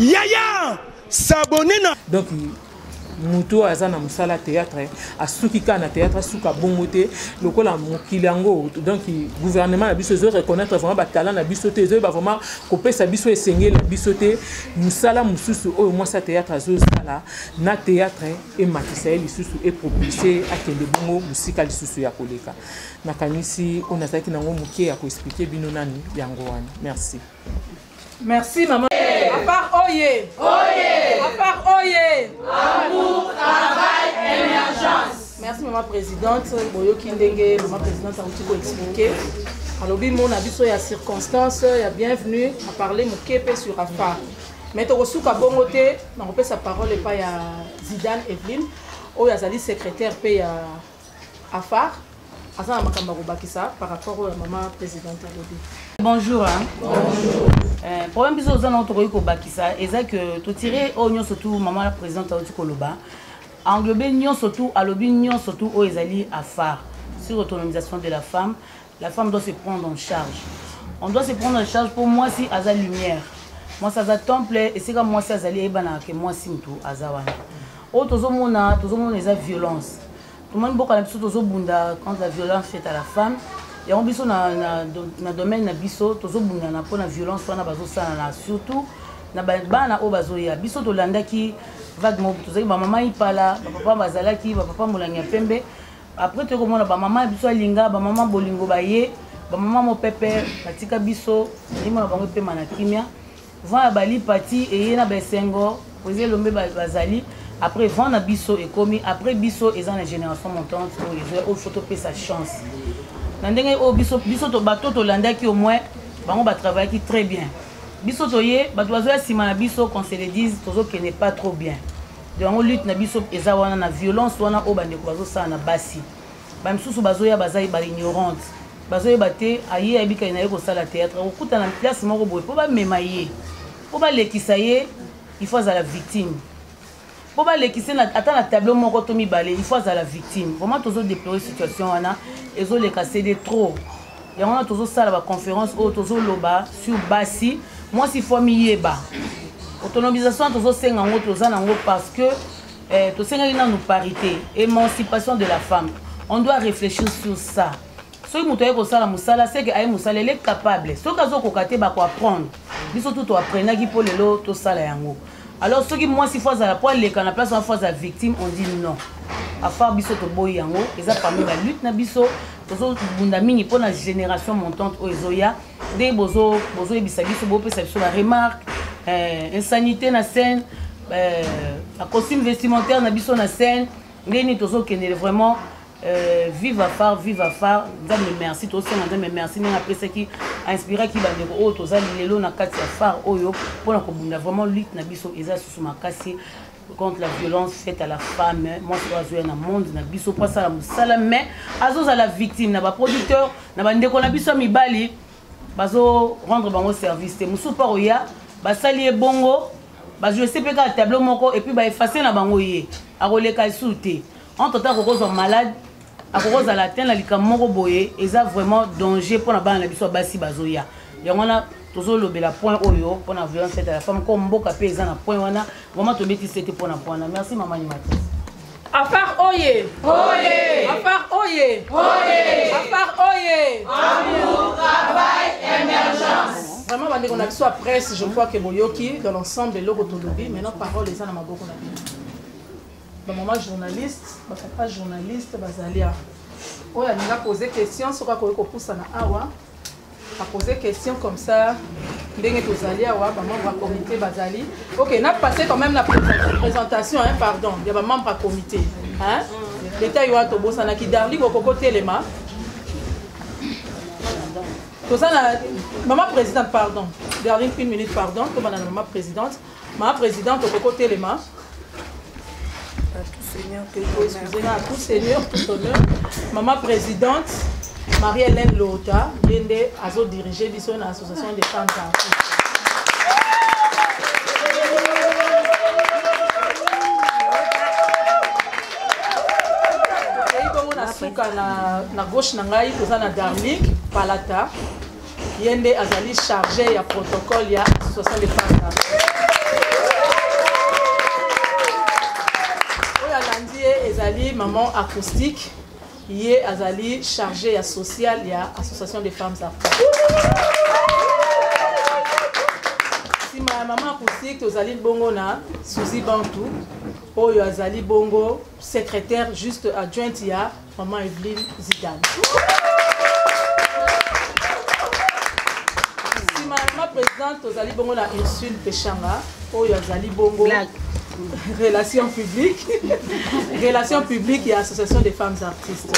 yaya s'abonner na donc moto oyo aza na mosala théâtre asuki kaka na théâtre asuka bongo te lokola mokili yango donc gouvernement na biso ezo reconnaître vraiment batalent na biso te ezoyeba vraiment kopesa biso esengeli na biso te mosala mosusu oyo mwasi ya théâtre azosala na théâtre ematisa ye lisusu epropulse akende bongo mosika lisusu ya koleka nakanisi oyo nazalaki nango moke ya koexplike bino nani yango wana merci Merci maman. Hey. À part oye. Oye. À part oye. Amour, travail, émergence. Merci maman présidente. Boyoki ndenge maman présidente auti ko expliquer. alobi mona biso ya circonstance ya bienvenue aparle moke mpe sur afar mai tokosuka bongo te nakopesa parole epai ya zidane eveline oyo azali secrétaire mpe ya afar aza na makambo ya kobakisa par rapport oyo ya mama présidente alobi bonjour hein? bonjour euh, problème biso oza nango tokoki kobakisa eza ke totire oyo nyonso tu mama la présidente auti koloba englobe nyonso tu alobi nyonso tu oyo ezali afar sur autonomisation de la femme la femme doit se prendre en charge on doit se prendre en charge mpo mwasi aza lumière mwasi aza temple esika mwasi azali eyebanaka ke mwasi motu aza wana oyo tozomona tozomona eza violence tomoni mboka na biso tozobunda contre la violence faite à la femme yango biso na, na, na domaine na biso tozobundana mpo na violence wana bazosalana surtout na bana oyo bazoya biso tolandaki vague moko tozalaki bamama ipala bapapa bazalaki bapapa molangi ya pembe après toyoko mona bamama ya biso alinga bamama bolingo baye bamama mopepe batika biso elimo na bango epema na kimia vent ya bali pati eye na baesengo oza elombe bazali après vent na biso ekomi après biso eza na génération montante oyo ezoya oyo fo topesa chance na ndenge oyo biso biso bato tolandaki au moins bango batravaillaki très bien biso toye bato bazoya nsima na biso qu'on se le dise tozokende pas trop bien yango lutte na biso eza wana na violence wana oyo bandeko bazosala na basi bamisusu bazoya baza baignorante bazoyeba te aye ayebikali na ye kosala théâtre akokutana place moko boye mpo bamema ye mpo balekisa ye il faut azala victime mpo balekisa ata na tableau moko to mibale il faut azala victime vraiment tozodeplore situation wana ezoleka cede trop yango wana tozosala baconférence oyo tozoloba sur basi mwasi fo amiyeba autonomisation tozosenga yango toza na yango parce que eh, tosengaki nanu parité émancipation de la femme on doit réfléchir sur ça soki moto aye kosala mosala seke aye mosala ele capable soki azokoka te bakoapprendre biso tu toapprenaki mpo lelo tosala yango alors soki mwasi fo azala po aleka na place wana fo azala victime on dit non afar biso toboyi yango eza parmi ba lutte na biso tozobunda mingi mpo na génération montante oyo ezoya nde bozoyebisa biso bopesa biso ba remarque eh, insanité na scène eh, ba costume vestimentaire na biso na scène nde nini tozokendele vraiment Euh, viva far viva far nzambe merci tosenga nzambe merci ndenge apesaki ainspiraki bandeko oyo toza lelo na kati ya far oyo mpona kobunda vraiment lutte na biso eza susu makasi contre la violence faite à la femme mwasi oyo azoya na monde na biso mpo asala mosala mais azozala victime na baproducteur na bandeko na biso ya mibali bazo rendre bango service te mosusu mpo akoya basali ye bongo bajouse mpe kaka tableau moko epuis baefase na bango ye akoleka lisusu te entre temps akoki ozwa malade akoki ozala te na likambo moko boye eza vraiment danger mpo na bana na biso ya basi bazoya yango wana tozolobela point oyo mpo na violence faite à la femme ko mboka mpe eza na point wana vraiment tobeti sete mpo na point wana merci mama animatrice Afar oye! Oye! Afar oye! Oye! Afar oye! Amour, travail, émergence. Vraiment, bande qu'on a que soit presse, je crois que Boyoki, dans l'ensemble, l'Ogo Tolobi, maintenant parole est à la Maboko Nabi. bamama journaliste bapapa journaliste bazali awa oyo alingi apose question soki akoki kopusana awa apose question comme ça ndenge tozali awa bamembre ya comité bazali ok na passe quand même na présentation hein, pardon ya bamembre ya comité hein? leta yo wana tobosanaki darli kokoko telema toza na mama présidente pardon darling une minute pardon tobanda na mama présidente Ma presidente okoki kotelema. Seigneur, tout honneur. Tout Seigneur, tout honneur. Maman présidente, Marie-Hélène Lota, Yende, Azo diriger biso na association des femmes d'Afrique. suka na, na gauche na ngai toza na darlik palata ye nde azali charge ya protocole ya association de pasta oyo alandi ye ezali maman acoustique ye azali charge ya social ya association des femmes afrique nsima ya mama acoustique tozali bongo na suzi bantu oyo azali bongo secrétaire juste adjointe ya Maman Evelyne Zidane. nsima ya ma présidente tozali bongo na ursule peshanga oyo azali bongo relation publique relation publique ya association des femmes artistes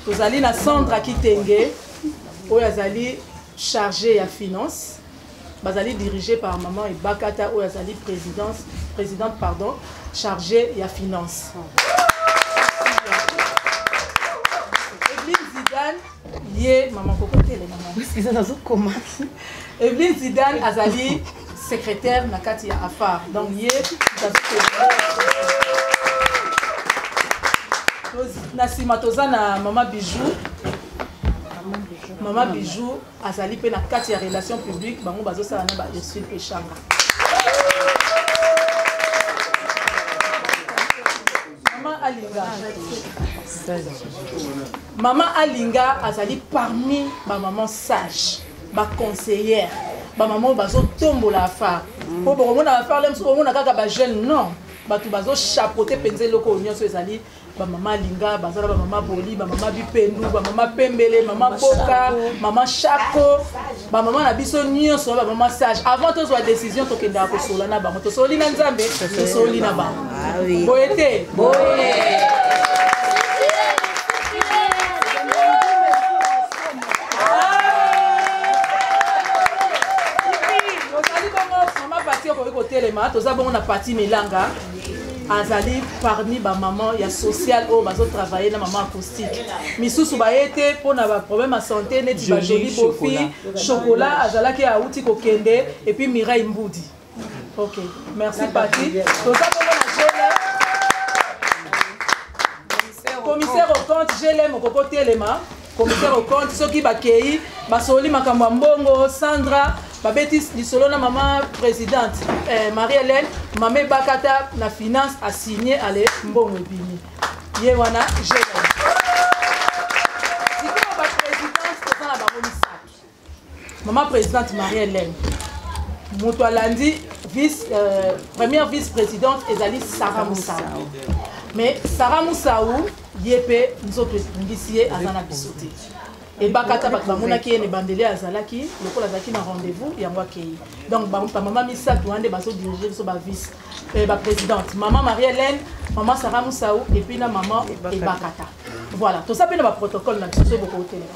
tozali na sandra kitenge oyo azali chargé ya finance bazali dirige par maman ebakata oyo azali présidence présidente pardon chargée ya finance ye mama kokotelemamaiza nazokoma evelin zidane azali secrétaire na kati ya afar donc ye na nsima toza na mama bijou mama bijou azali mpe na kati ya relation publique bango bazosala na ba ursule peshanga mama alinga mama alinga azali parmi bamaman sage baconseillere bamama oyo bazotombola afar mpo bokomona afar le mosusu bokomona kaka bajeune non bato bazochapote mpenza eloko oyo nyonso ezali bamama alinga baza na bamama boli bamama bipendu bamama pembele mama boka mama shako bamama na biso nyonso na bamama sage avant tozwa décision tokendaka kosola na bango tosoli na nzambe tosoli na bango ah boye te okoki kotelema toza bongo na pati milanga azali parmi bamama ya sociale oyo bazotravaille na mama acoustique misusu baye te mpo na baproblème ya santé neti bajoli bofi chocolat azalaki auti kokende epuis mirai mbudi ok merci pati toza bongo na jele commissaire au compte jele mokoko telema commissaire au compte soki bakei basololi makambo ya mbongo sandra babeti lisolo na mama présidente eh, marie hélène mama ebakata na finance asigne ale mbongo ebimi ye wana jeune Maman présidente Marie-Hélène, moto alandi vice, euh, première vice-présidente ezali Sarah Moussaou. Mais Sarah Moussaou, ye mpe nzoto ebungisi ye aza na biso te ebakata bato bamonaki ye na ebandeli azalaki lokola azalaki na rendez-vous yango akei donc bamama misato wana nde bazodirige biso bavice eh, baprésidente mama marie hélène mama sara mosau epuis na mama ebakata voilà toza mpe na baprotocole na biso soki bokotelema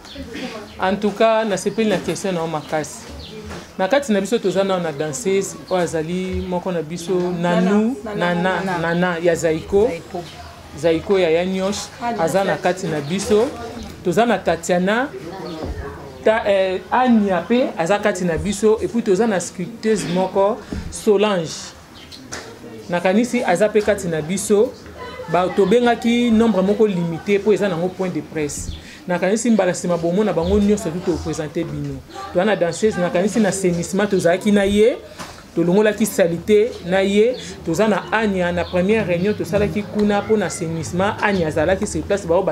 en tout cas nasepeli na question na yo makasi na kati na biso toza nao na danseuse oyo azali moko na biso nanou nana nana ya zaiko zaiko ya ya nyosh ah, aza na kati na biso toza na tatiana ta, eh, ania mpe aza kati na biso epuis toza na sculpteuse moko solange nakanisi aza mpe kati na biso tobengaki nombre moko limité mpo eza nango point de presse nakanisi mbala nsima bomona bango nyonso tu topresente bino toza na danseuse nakanisi na senissement tozalaki na ye tolongolaki salite na ye toza na ania na première réunion tosalaki kuna mpo na senissement ania azalaki sur place bango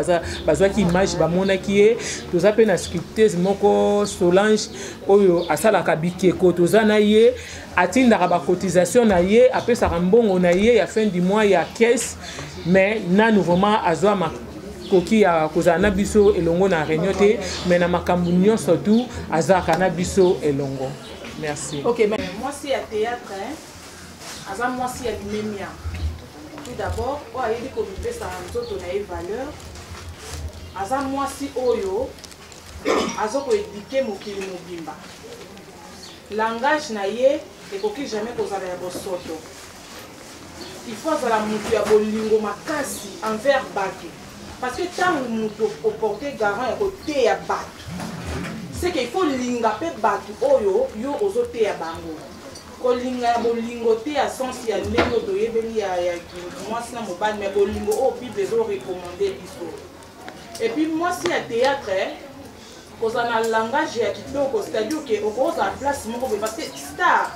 bazwaki image bamonaki ye toza mpe na sculpteuse moko solange oyo asalaka bikeko toza na ye atindaka ba cotisation na ye apesaka mbongo na ye ya fin du mois ya caisse mais nanu vraiment azwa makoki ya kozala na biso elongo na réunion te mais na makambo nyonso tu azalaka na biso elongo merci okay, mais... mwasi ya théâtre hein? aza mwasi ya limemia tout d'abord oyo ayebi komipesa nzoto na ye valeur aza mwasi oyo azokoedike mokili mobimba Langage na ye ekoki jamais kozala ya bosoto. Il faut azala mutu ya bolingo makasi envers batu. Parce que tango mutu oporte garant ya koteya batu, c'est qu'il faut linga pe batu oyo yo ozoteya bango. kolinga ya bolingo te ya sense ya ndenge oyo toyebeli ya mwasi na mobali me bolingo oyo bible ezorekomande biso epuis mwasi ya théâtre kozala na langage ya kitoko c'est-à-dire ke okozala place moko boye parce que star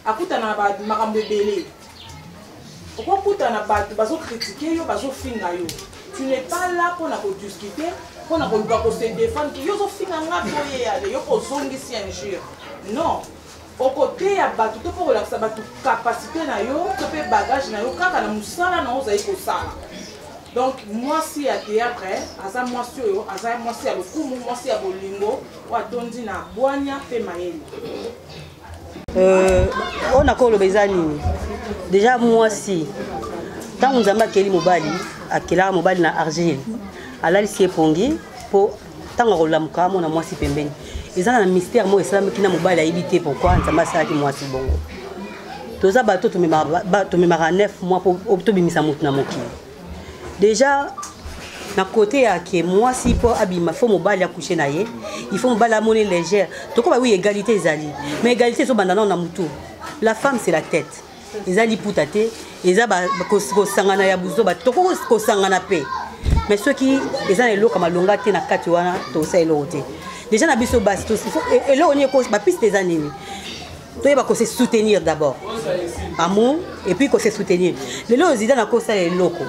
akutana na makambo ebele okokutana bato bazokritike yo bazofinga yo tu n'es pas là mpo na kodiscute mpo na koluka kose défendre yo ozofinga nga boye yale yo kozongisi injure non Okoteya bato to mpe okolakisa bato kapasite na yo to mpe bagage na yo kaka na mosala na yo ozali kosala. Donc mwasi ya théâtre aza mwasi oyo aza mwasi ya lokumu, mwasi ya bolingo oyo atondi na bwanya mpe mayele. Euh, oyo nakoki koloba eza nini? Deja mwasi ntango Nzambe akeli mobali akelaka mobali na argile alalisi ye pongi mpo ntango akolamuka amona mwasi pembeni eza na mystère moko esalamaki na mobali ayebi te pourkui nzambe asalaki mwasi bongo toza bato tomemaka 9 mois mpo tobimisa motu na mokili déjà na kote ya ke mwasi mpo abima fo mobali akushe na ye ifo mobali amoni légère tokoba wi égalité ezali mais égalité ezobanda nao na motu la femme c'est la tête eza liputa te eza kosangana ya buzoba tokoki kosangana mpe mais soki eza na eloko malonga te na kati wana tosala eloko te déjà na biso basi e, eloko nini bapiste eza nini toyeba kose soutenir d'abord amour et puis kose soutenir lelo oyo zidane akosala eloko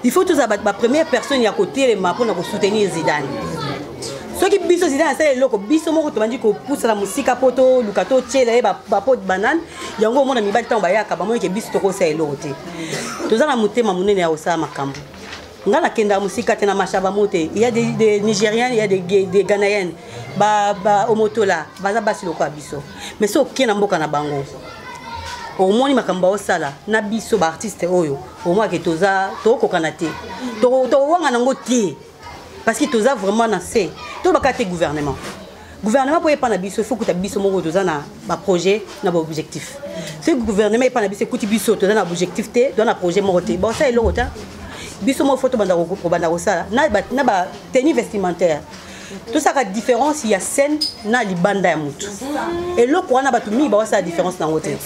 il faut tozala bapremière personne ya kotelema mpona kosoutenir zidane soki biso zidane asala eloko biso moko tobandi kopusana mosika mpo toluka totyela ye bapo banane yango omona mibali ntango bayaka bamoni ke biso tokosala eloko te toza na motema monene ya kosala makambo nga nakendaka mosika te na mashaba mo te ya de, de nigérienne ya de, de ghanaienne baomotola ba, baza basi lokola biso mais so oke na mboka na bango omoni makambo baosala na biso baartiste oyo omonake toza tokokana te tokowanga nango te parce que toza vraiment na se tolobaka te gouvernement gouvernement mpo epa na biso ifo kuta biso moko toza na baprojet na baobjectif soki gouvernement epa na biso ekuti biso toza na objectif te toza na projet moko te bosala eloko te biso moko fo tobanda kobanda kosala na bateni vestimentaire tosaka différence ya scène na libanda ya motu eloko wana bato mingi bakosala différence nango te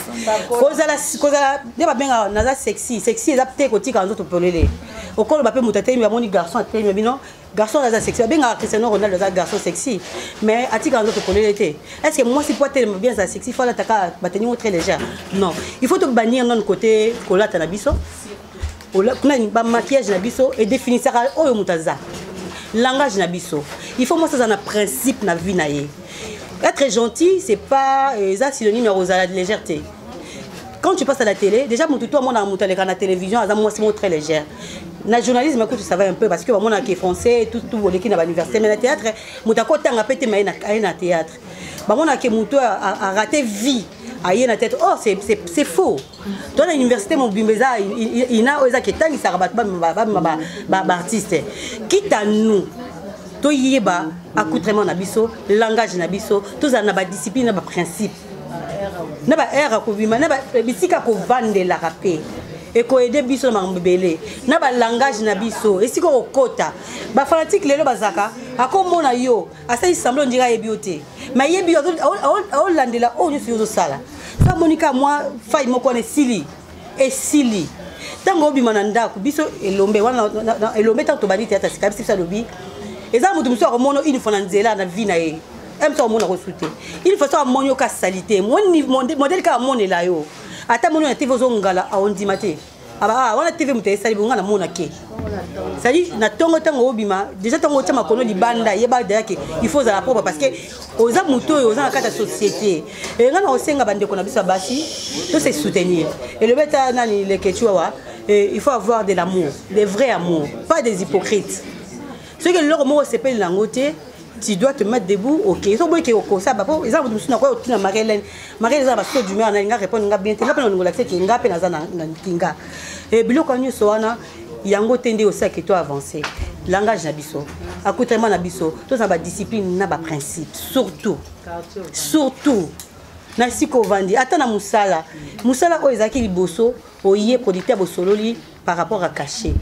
kozala nde babengaka naza sexy sexy eza te kotika nzoto polele okoloba mpe moto atelemi bamoni garçon atelemi bino garçon aza sexy babengaka cristiano ronaldo aza garçon sexy mais atikaka nzoto polele te est ce que mwasi mpo atelema bien aza sexy fo alataka bateni ngo très légère non il faut tobanir nano côté kolata na biso bamaquillage na biso edefinisaka oyo moto aza langage na biso il faut mwasi aza na principe na vie na ye être gentil c'est pas eza synonyme ya kozala légère te quand tu passes à la télé déjà moto to amonaka moto aleka na télévision aza mwasi moko très légère na journalisme kutu ça va un peu parce que bamonaka français tout tout oleki na bauniversité mais na théâtre moto akotanga mpe te ma aye na théâtre bamonaka ke moto arate vie aye na tete oh c'est faux to na université mobimba eza ina oyo eza ketangisaka bato bamema baartiste kita nous toyeba accoutrement na biso langage na biso tozala na badiscipline na baprincipe na ba aire akobima na eh, bisika kovandelaka mpe ekoede biso na makambo ebele na balangage na biso esika okokota bafanatike lelo bazalaka akomona yo asali semblo ondika ayebi yo te ma yebi yo aolandela oyo nyonso yo ozosala sa amoni ka mwa fai moko wana esili esili ntango obima na ndako biso elombe wana elombe ntango tobandi te ata sika biso biso alobi eza moto mosusu akomono une fois na nzela na vie na ye eme to amona kosu te il faut so amoni yo ka salite modele kaka amonela yo ata moni na tv ozongala aondima te ah, wana tv moto esali bonga na mona ke cestadire na ntongo ntango obima deja ntango otya makolo libanda yeba deja ke il faut ozala propre parce que oza moto oyo oza na kati ya société enga na kosenga bandeko na biso ya basi to se soutenir elobi ata nani lekecuawa il faut avoir de l'amour des vrai amour pas des hypocrites soki eloko moko osepeli na yango te tu dois te mettre debout ok soki boyeke okosa bapo eza moto mosusu nakoya otina makelene makelene eza na basoso du mare nalinga répondre nga bien te nga mpe nalingo lakisa ke nga mpe naza na kinga eh, biloko nyonso wana yango te nde osi ake to avance langage na biso accoutrement na biso toza na badiscipline na baprincipe surtout surtout na esika ovandi ata na mosala mosala oyo ezalaki liboso oye producteur bosololi par rapport à cachet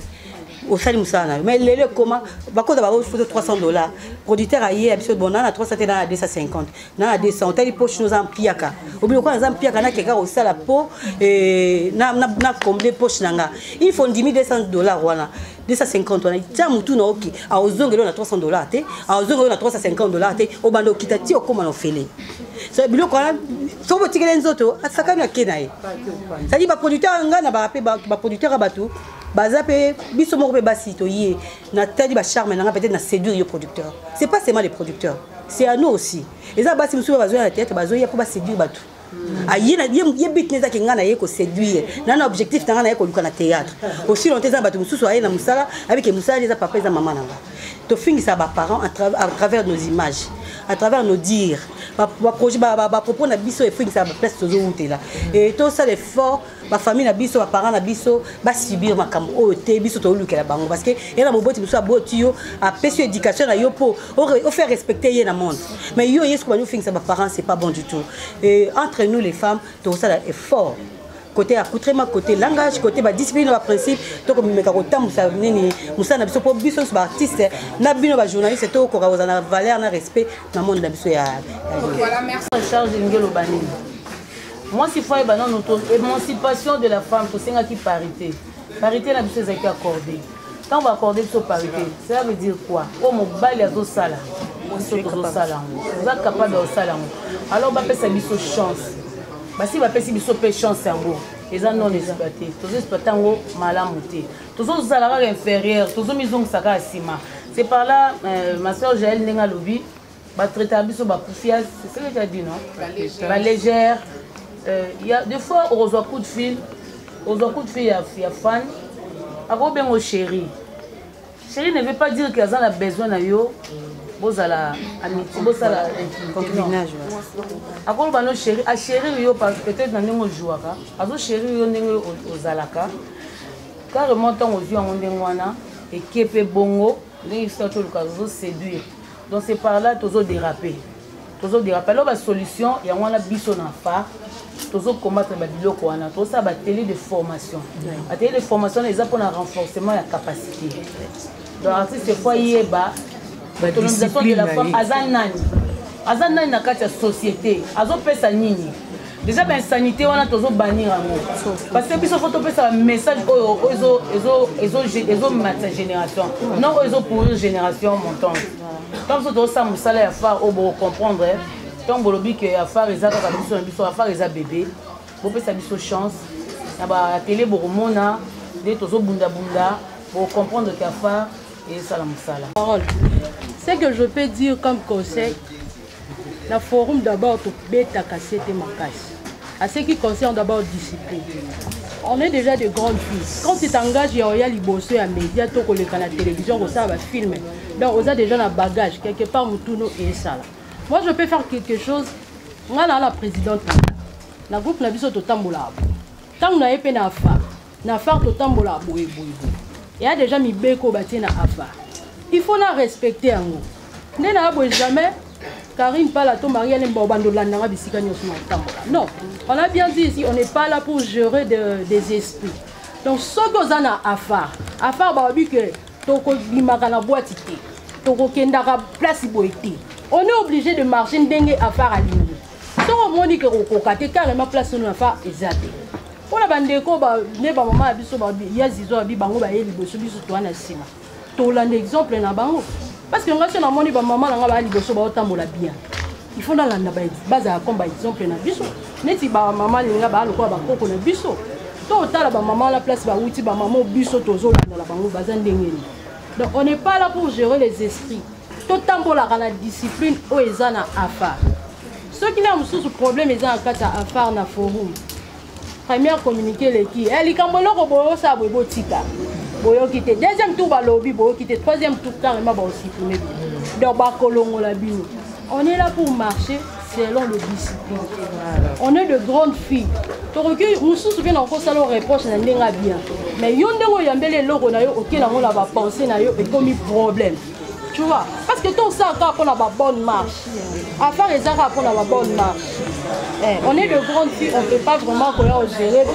osali mosala na yo mais lelo ekoma bakoza bango foto 300 dollars producteur aye ya biso bon na na 300 te na na 250 na na 200 otali poche noza mpiaka obino kwa naza mpiaka nakeka kosala po eh, na combler poche na nga il faut ndimi 200 dollars wana 250 wana tya motu na oke aozongela oyo na 300 dollars te aozongela oyo na 350 dollars te obanda okita ti okóma na ofele so biloko wana soki botikele nzoto asakani ake na ye sadi baproducteur ya ngai na baa mpe baproducteur ya bato baza mpe biso moko mpe basi toye natali bacharme na ngai peut-être na séduire yo producteur c'est pas seulement les producteurs c'est à nous aussi eza basi mosusu oyo bazoya na théâtre bazoya mpo baséduire bato ah, ye bit eza ke ngai na ye koséduire na na objectif na ngai na ye koluka na théâtre aussi longtemps eza na bato mosusu aye na mosala abike mosala eza papa eza mama na ngai tofingisa baparent à travers nos images à travers nos dire bapropos na biso efingisa baplace tozowutela e tosala effort bafamille na biso baparent na biso basubir makambo oyo te biso tolukela bango parce que ye na moboti mosusu aboti yo apesi yo éducation na yo mpo ofaire respecter ye na monde mais yo yesu kobandi ofingisa baparent c'est pas bon du tout e entre nous les femmes tokosala effort côté accoutrement côté langage côté ba discipline ba principe to ko meka ko tambusa nini musana biso po biso ba artiste na bino ba journaliste to ko ka na valeur na respect na monde na biso ya voilà merci charge ngelo bani moi si fois ba non émancipation de la femme to senga ki parité parité na biso ezaki accordée ntango baakorde biso parité cela veut dire quoi oyo mobali azosala biso tozosala yango oza capable ya kosala yango alors bapesa biso chance basi bapesi biso mpe chance yango eza non exploité tozo exploité yango malamu te tozozala kaka inférieur tozomizongisa kaka nsima c'est par là euh, ma soeur jael ndenge alobi batraitaka biso bakufias c'est ce que tu as dit non balégère euh, ya des fois okozwa coup de fil ozwa coup de fil ya, ya fan akobengo chérie chérie ne veut pas dire que aza na besoin na yo bozala amitié bosala concubinage akoloba no chéri achérir yo peut-être na ndenge ojouaka azochérir yo ndenge ozalaka carrément ntango ozwi yango ndenge wana eke mpe bongo ndenge biso toluka tozoséduire donc c'est par là tozodérape tozo derape alors ba solution yango wana biso na fa tozo combattre ba biloko wana tozosala ba tele de formation ba tele de formation wana eza mpona renforcement ya capacité donc artiste fo ayeba autonomisation de la femme aza nani aza nani na kati ya société azopesa nini déjà bainsanité wana tozobanir yango parce que biso fo topesa bamessage oyo ezomatisa génération non oyo ezopourrir génération montante ntango biso tozosala mosala ya far oyo bokocomprendre ntango bolobi ke ya far eza kaka biso na biso ya far eza bebe bopesa biso chance na batele bokomona nde tozobundabunda bocomprendre ke ya far esala mosala c'est que je peux dire comme conseil na forum d'abord tobetaka se te makasi à ce qui concerne d'abord discipline on est déjà de grandes filles quand tu t'engages ya oya liboso ya média to koleka na télévision kosala bafilme donc oza déjà na bagage quelque part motuno esala moi je peux faire quelque chose ngai naa la présidente na groupe na biso totambolaka ntango na ye mpe na afa na far totambola boye boye boye eya deja mibeko oyo batie na afar il faut na respecte yango nde na boye jamais Karine Pala to Maria Lemba obanda olanda nga bisika nyonso na kotambola non on a bien dit ici on n'est pas là pour gérer de, des esprits donc soki oza na afar afar baobi ke tokobimaka na bwati te tokokendaka place boye te on est obligé de marcher ndenge afar alingi soki omoni ke kokoka te carrément place ono afar eza te mpo na bandeko nde bamama ya biso ya zizo abi bango baye liboso biso toa na nsima tolanda exemple na bango parce que ngai so namoni bamama na ngai baya liboso baotambola bien il faut nalanda bazala comme ba exemple na biso neti bamama linga baya lokola bakoko na biso to otala bamama wana place bawuti bamama biso tozolandala bango baza ndenge nini donc on n'est pas là pour gérer les esprits totambolaka na discipline oyo eza na afar soki na mosusu problème eza na kati ya afar na forum première communiqué eleki eh, likambo eloko boyosala boye botika boyoki te deuxième tour balobi boyoki te troisième tour carrément baosipime bino donc bakolongola bino on est là pour marcher selon le discipline on est de grandes filles tokoki mosusu mpe na okosala reproche na ndenge ya bien mais yo ndenge oyambeli eloko na yo okelango na bapense na yo ekomi problème tu vois parce que tout ça encore pour la bonne marche affaire les arabes pour la bonne marche eh, on est de grandes filles on peut pas vraiment koya ogere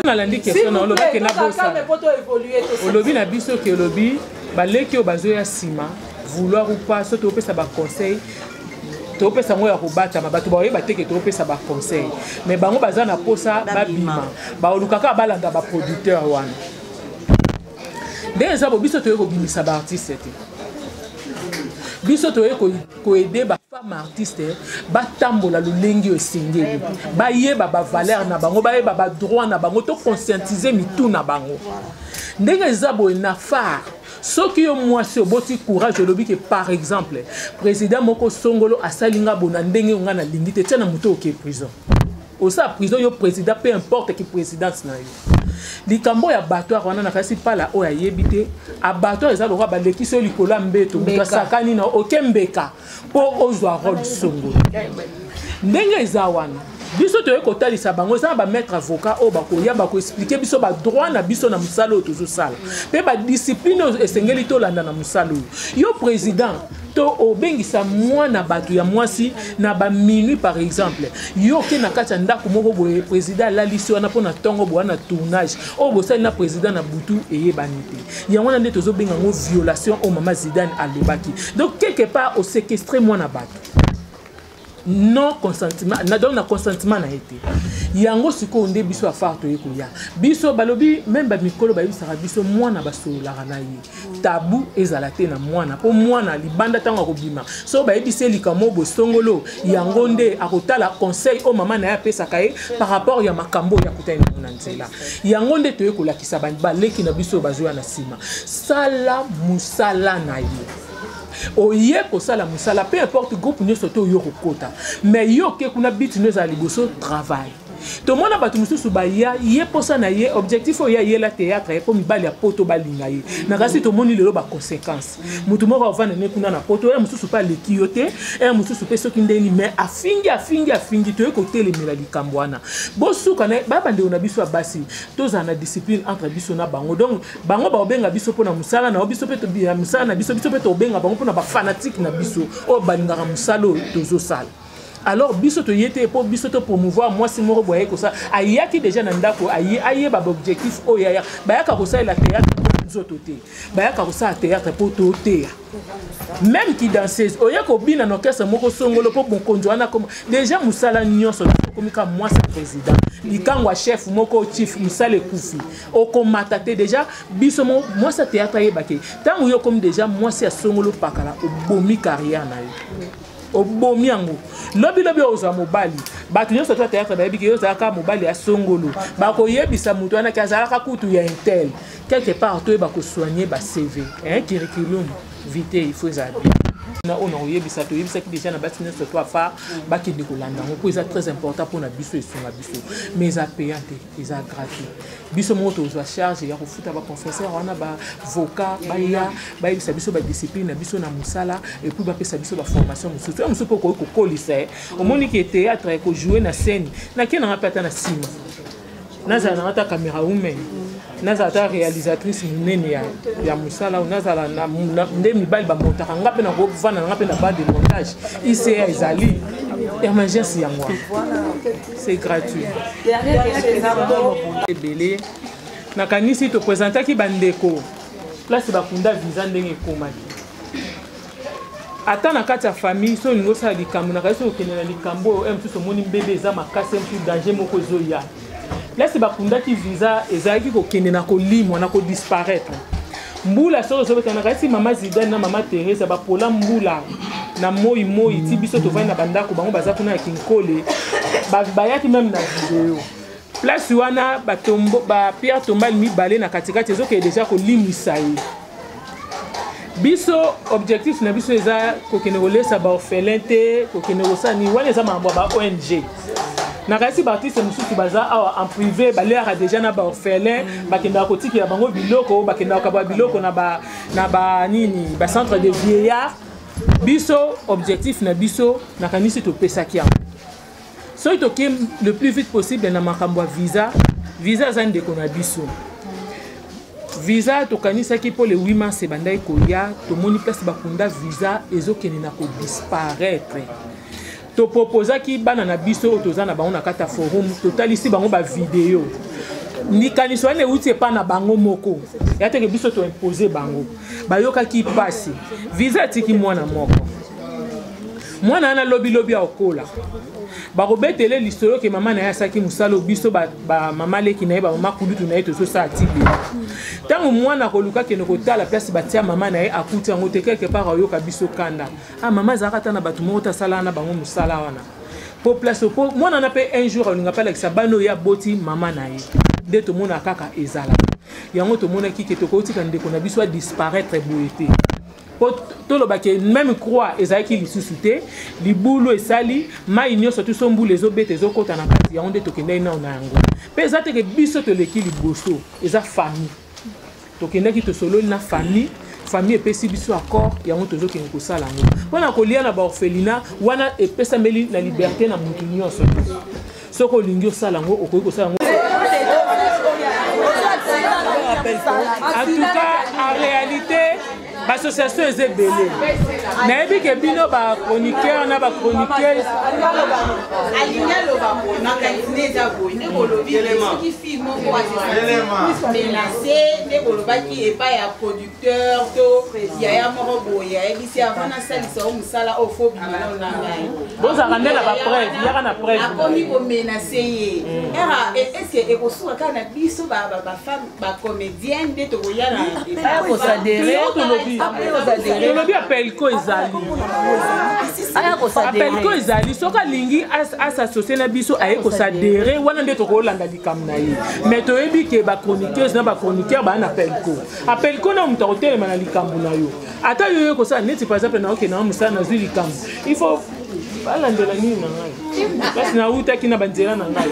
nalandi question na olobi ke nabosa olobi na biso ke olobi baleki oyo bazoya nsima vouloir ou pas soki topesa baconseil topesa yango ya kobatama bato baoye bateke topesa baconseil mais bango baza na mposa babima baolukaka balanda baproducteur wana nde eza bo biso toye kobimisa baartiste te biso toye koede bafemme artiste batambola lolenge oyo esengeli bayeba bavaleur na bango bayeba badroit na bango to conscientize mitu na bango ndenge eza boye na far soki yo mwasi oboti courage olobi ke par exemple président moko songolo asali nga bona ndenge oyo nga nalingi te tia na moto oke prison osa prison yo président peu importe ki présidence na yo likambo ya batoire wana nakasi pala oyo ayebi te abatoire eza lokola balekisi yo likolo ya mbeto moto asakani na oke mbeka mpo ozwa role songo ndenge eza wana biso toyei kotalisa bango eza na bamaître avocat oyo bakoya bakoexplike biso badroit na biso na mosala oyo tozosala mpe badiscipline oyo esengeli tolanda na mosala oyo yo président to obengisa mwana bato ya mwasi na ba minuit par exemple yo oke na kati ya ndako moko boye président alalisi wana mpo na ntongo boya na tournage oyo bosali na président na butu eyebani te yango wana nde tozobenga yango violation oyo mama zidane alobaki donc quelque part osekestre mwana bato non consentiment na donc na consentiment na ye te yango sikoyo nde biso afar toye koya biso balobi meme bamikolo bayebisaka biso mwana basololaka na ye tabu ezala te na mwana mpo mwana libanda ntango akobima so bayebisi ye likambo bosongolo yango nde akotala conseil oyo mama na ye apesaka ye par rapport ya makambo oyo akutani nango na nzela yango nde toye kolakisa baleki na biso oyo bazoya na nsima sala mosala na ye oye kosala mosala peu importe groupe nyonso te oyo kokota mais yo oke kuna biti no ezala liboso travail tomona bato mosusu baya ye mposa na ye objectif oyo ye ayela théâtre ye mpo mibali ya poto balinga ye na kasi tomoni lelo baconséquence motu moko avanda ne kuna na poto ya mosusu mpe aleki yo te ya mosusu mpe soki ndeni mai afingi afingi afingi toye kotelemela likambo wana bosuka na ye babandeko na biso ya basi tozala na discipline entre biso na bango donc bango bakobenga biso mpo na mosala na yo biso mpe ya mosala na biso biso mpe tokobenga bango mpo na bafanatike na biso oyo balingaka mosala oyo tozosala alors biso toye te mpo biso topromouvoir mwasi moko boye aye kosala ayaki deja na ndako aye ayeba baobjectif oyo aya bayaka kosalela théâtre nzoto te bayaka kosala théâtre mpo toteya meme kidanseuse oye kobina na orchestre moko songolo mpo mokonzi wana akoma deja mosala nyonso okomi kaka mwasi ya président likango ya chef moko chief mosala ekufi okomata te deja biso mo mwasi ya théâtre ayeba ke ntango yo okomi deja mwasi ya songolo pakala obomi carrière na yo obomi yango lobilobi ozwa mobali bato nyonso to teyaka bayebi ke yo ozalaka mobali ya songolo bakoyebisa moto wana ke azalaka kutu ya intel quelque part toyeba kosoigne bacv curriculum vite il faut ezala bien na oyo nakoyebisa toyebisaki deja na basi nyonso to apart bakende kolanda yango mpo eza très important mpo na biso esunga biso mais eza payant te eza gratuit biso moko tozwa charge ya kofuta baconfesseur wana bavoka baya bayebisa biso badiscipline na biso na mosala epuis bapesa biso baformation mosusu ya mosusu mpe okoki kokolisa ye omoni ke théâtre ekojoue na scène nake nanga mpe ata na nsima nazala nanga ata camera women nazala ata réalisatrice monene ya, ya mosala nazala na, na, nde mibali bamontaka nga mpe nakovanda nanga mpe na bande de montage ica ezali emergence yango wana c'est gratuit ebele nakanisi topresentaki bandeko place bakunda visa ndenge ekomaki ata na kati ya famille soki olingi osala likambo na kasi okende na likambo oyo mosusu omoni mbebe eza makasi mosusu danger moko ezoya place bakundaki visa ezalaki kokende na kolimwa na kodisparaitre mbula soko ezobeta nakanisi mama zidane na mama teresa bapola mbula na moi moi ti biso tovandi na bandako bango baza kuna ya kinkole bayaki meme na video place wana bapierre tombale mibale na katikati ezokende deja kolimwisa ye biso objectif na biso eza kokende kolesa baorphelin te kokende kosala nini wana eza makambo ya ba ong nakanisi baartiste mosusu baza awa en privé baleaka déjà na baorphelin bakendaka kotikela bango biloko bakendaka kaba biloko na banini bacentre de vieillard biso objectif na biso nakanisi topesaki yango soki toke le plus vite possible na makambo ya visa visa aza ndeko na biso visa tokanisaki mpo le 8 mars ebandaki koya tomoni place bakunda visa ezokende na kodisparaitre topropozaki bana na biso oyo toza na bango na kati ya forum totalisi bango bavideo likanisi wana euti epai na bango moko ya teke biso toimpose bango bayokaki mpasi visa atiki mwana moko mwana wana lobilobi akokola bakobetele lisolo ke mama na ye asaki mosala oyo biso bamama leki na ye bamama kulutu na ye tozosala tibe ntango mwana akoluka kende kotala place batia mama na ye akuti yango te quelque part ayoka biso kanda ah mama azalaka ata na bato moko te asalaka na bango mosala wana po place po mwana wana mpe un jour alinga mpe alakisa bana oyo aboti mama na ye nde tomonaka kaka ezalaka yango tomonaki ke tokotika ndeko na biso adisparaitre boye te po toloba ke meme croix ezalaki lisusu te libulu esali mai nyonso tuso mbula ezobeta ezokota na kati yango nde tokendaki nao na yango mpe eza teke biso toleki liboso eza famille tokendaki tosololi na famille famille epesi biso accord yango tozokende kosala yango mpo na kolia na baorphelina wana epesameli na liberte na motu nyonso soki olingi osala yango okoki kosala yango en tout cas en réalité bassociation eza ebele nayebi ke bino bachroniqueur na bachroniqueuse alingi aloba makanisi nde eza boye nde bolobi soki fille moko asemenase nde bolobaki epai ya producteur to yaya moko boye ayebisi avant nasalisa o mosala oyo fo bimana na ngai bozalaka nde na bapreuve yaka na preuve akomi komenase ye era eske ekosuka kaka na biso bafemme ba comédienne nde tokoya na tolobi apelco ezali apelco ezali soki alingi asassocie na biso aye kosadere wana nde tokolanda likambo na ye mais toyebi ke bachroniqueuse na bachroniqueur baa na pelco apelco na moto akotelema na likambo na yo ata yo yo kosala neti par exemple naokenda na mosala nazwi likambo il faut balandela nini na ngai kasi nawutaki na banzela na ngai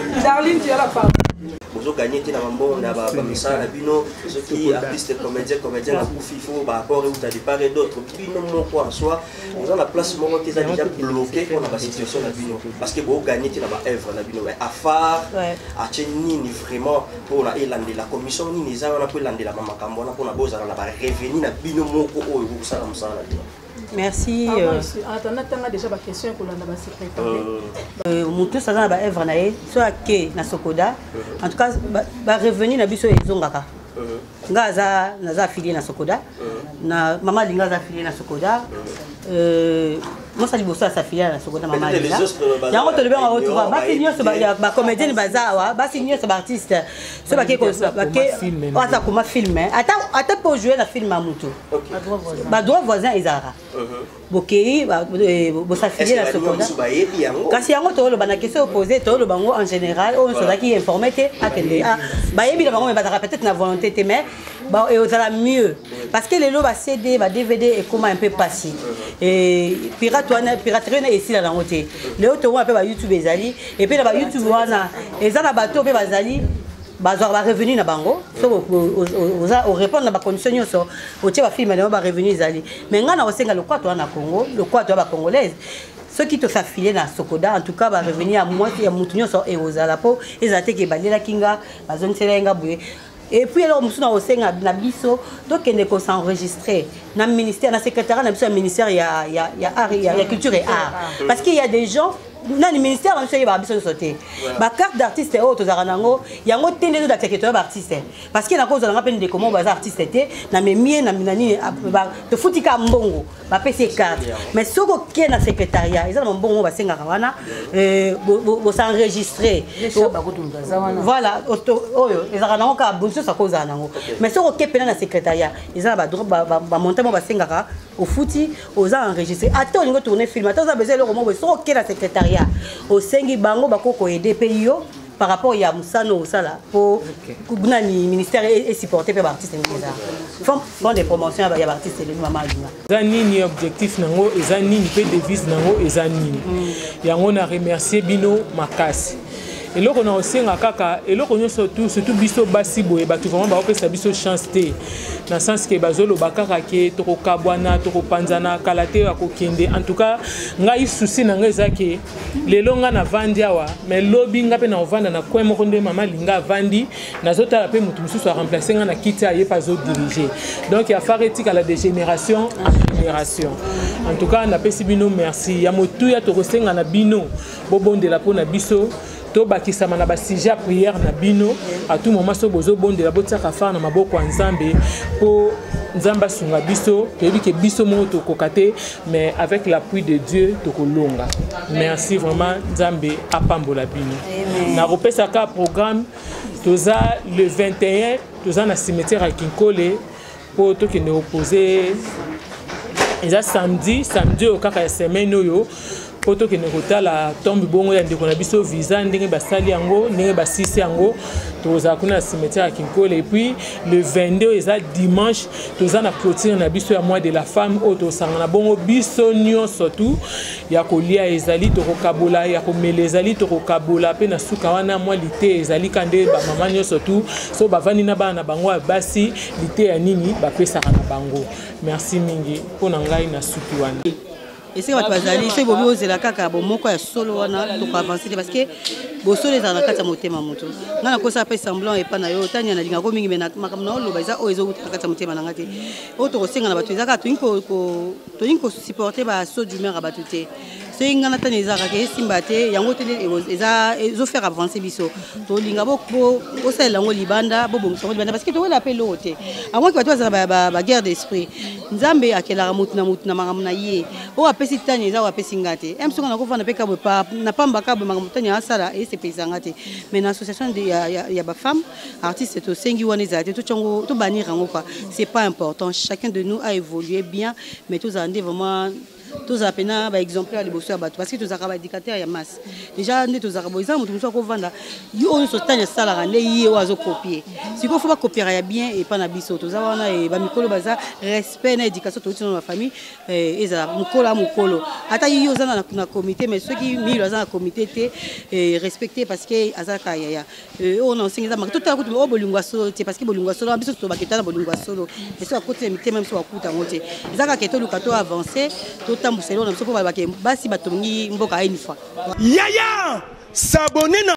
bozo gagner te na bambongo na bamisala na bino soki artiste comédien comédien akufi fo baapport euta départ et d'autres bino moko en soi oza na place moko te eza déjà bloqué mpo na basituation na bino parce que boo gagner te na baœuvre na bino mais afar atie nini vraiment mpo na elandela commission nini eza wana mpo elandelama makambo wana mpo na bozala na barevenu na bino moko oyo bokosala mosala na bino merci ah, euh, euh, motus aza na baevre na ye so ake na sokoda euh. en tout cas barevenu na biso ezongaka nga aza naza afilie na sokoda na mama alinga aza afilie na sokoda mosa liboso ya safilia na sokoda mama alinga yango tolobi yango tuba basi nyonso bacomédienne baza awa basi nyonso baartiste so bake aza koma filme ata mpe ojoue na filme ya motu badroit voisin ezalaka uh-huh. bokei eh, bosafilie na seconda kasi yango tooloba na question opose tooloba yango en général oyo nyonso ozalaki informe te akende ah, bayebi na bango me bazalaka peut-être na volonté te mais ozala mieux parce que lelo ba cd ba dvd ekoma un peu pasi uh-huh. pirate wana piraterie wana esila nango te lelo tokomona mpe ba youtube ezali et puis na ba youtube wana eza na bato pe bazali bazwaka barevenu na bango soki oza orépondre na bacondition nyonso otie bafilme na yo barevenu ezali mai ngai nakosenga lokwato wana na congo lokwato ya bacongolaise soki tosafile na sokoda en tout cas barevenu ya motu nyonso ekozala mpo ezala te ke balelaki nga bazongiselaki nga boye et puis eloko mosusu na kosenga na biso tokende kosenregistre na ministère na secrétariat na biso ya ministère ya, ya, ya, art, ya, ya culture et art parce qu'il y a des gens nani ministère na biso eyebaka biso nyonso te bacarte d'artiste oyo tozalaka na yango yango te nde tozalaka ke toya baartiste parce que nakozala nga mpe ndeko moko baza artiste te na memie na nini tofuti ka mbongo bapesi ye carte mais soki oke na secrétariat eza na bambongo moko basengaka wana euh, bosenregistre voilà oyo ezalaka nango kaka bonsoso akozala nango mais soki oke mpena na secrétariat eza na bamonta moko basengaka ofuti oza enregistre ata olingi otourne film ata oza besoin eloko moko soki oke na secrétariat osengi bango bakokoede mpe yo par rapport ya mosano osala po nani ministère esupporte mpe baartiste ndenge eza fond de promotion ya baartiste elongi mama alinga eza nini objectif nango eza nini mpe devise nango eza nini mm. yango na remercier bino makasi eloko na kosenga kaka eloko nyonso tu surtout biso basi boye bato vraiment bakopesa biso chance te na sens ke bazoloba kaka ke tokokabwana tokopanzana kala te ya kokende en tout cas ngai susi na ngai eza ke lelo nga navandi awa mais lobi nga mpe naovanda na coin moko nde mama linga avandi nazotala mpe moto mosusu aremplace nga na kiti aye mpe azodirige donc ya far etikala de génération en génération en tout cas napesi bino merci ya motuya tokosenga na bino bobondela mpo na biso tobakisama na basujet ya priere na bino a tout moment soki bozobondela botiaka far na maboko ya nzambe mpo nzambe asunga biso toyebi ke biso moko tokoka te mais avec l'appui de dieu tokolonga merci vraiment nzambe apambola bino nakopesaka programme toza le 21 toza na cimetière ya kinkole mpo tokende kopose eza samedi samedi oyo kaka ya semaine oyo mpo tokende kotala tombe bongo ya ndeko na biso visa ndenge basali yango ndenge basisi yango tokozala kuna na cimetière ya kinkole epuis le 22 oyo eza dimanche toza na clotire na biso ya mois de la femme oyo tosangana bongo biso nyonso tu ya kolia ezali tokokabola ya komela ezali tokokabola mpe na suka wana mwa lite ezali ka nde bamama nyonso tu so bavandi na bana na bango ya basi liteya nini bapesaka na bango merci mingi mpo na ngai na suki wana esika bato bazali soki bobi ozela kaka bomoko ya solo wana tokoavanse te parce que bosolo ezala na kati ya motema moto ngai nakosa mpe semblant epai na yo otania nalingako mingi me makambo na oloba eza oyo ezowuta na kati ya motema na ngai te oyo tokosenga na bato eza kaka tolingi kosupporte basaut d'humeur ya bato te soki ngai natani eza kaka esimba te yango te ezofaire avance biso tolinga bosalela yango libanda bobongisa yango libanda parce que towela mpe eloko te avant ke bato bazala baguerre d'esprit nzambe akelaka motu na motu na makambo na ye oyo apesi tani eza oyo apesi ngai te m soki nakofanda mpe kabwe na pamba kabwe makambo tani asala esepelisa ngai te mais na association ya bafemme artiste tosengi wana ezala te totyango tobanir yango kua c'est pas important chacun de nous a évolué bien mais tozala nde vraiment tozala mpena ba exemplaire liboso ya bato parce que tozalaka ba dictateur ya masse déjà nde tozalaka boye eza moto mosusu akovanda yo oyo nyonso tani asalaka nde ye oyo azokopie sikoyo fo bakopiaka ya bien epa na biso toza wana e, bamikolo baza respect na éducation touti na bafamille e, ezala mokolo a mokolo ata ye oza na comité mais soki milo aza na comité te e, respecte parce que azalaka yaya Eh, oyo naosengi eza maka totala kutu oyo bolingo ya solo te parce que bolingo ya solo wana biso tolobaka etala bolingo ya solo esi bakoti na mitema biso bakuta yango te eza kaka etoluka to avance totambwisa eloko na biso mpo balobaka basi batongi mboka une fois yaya sabone na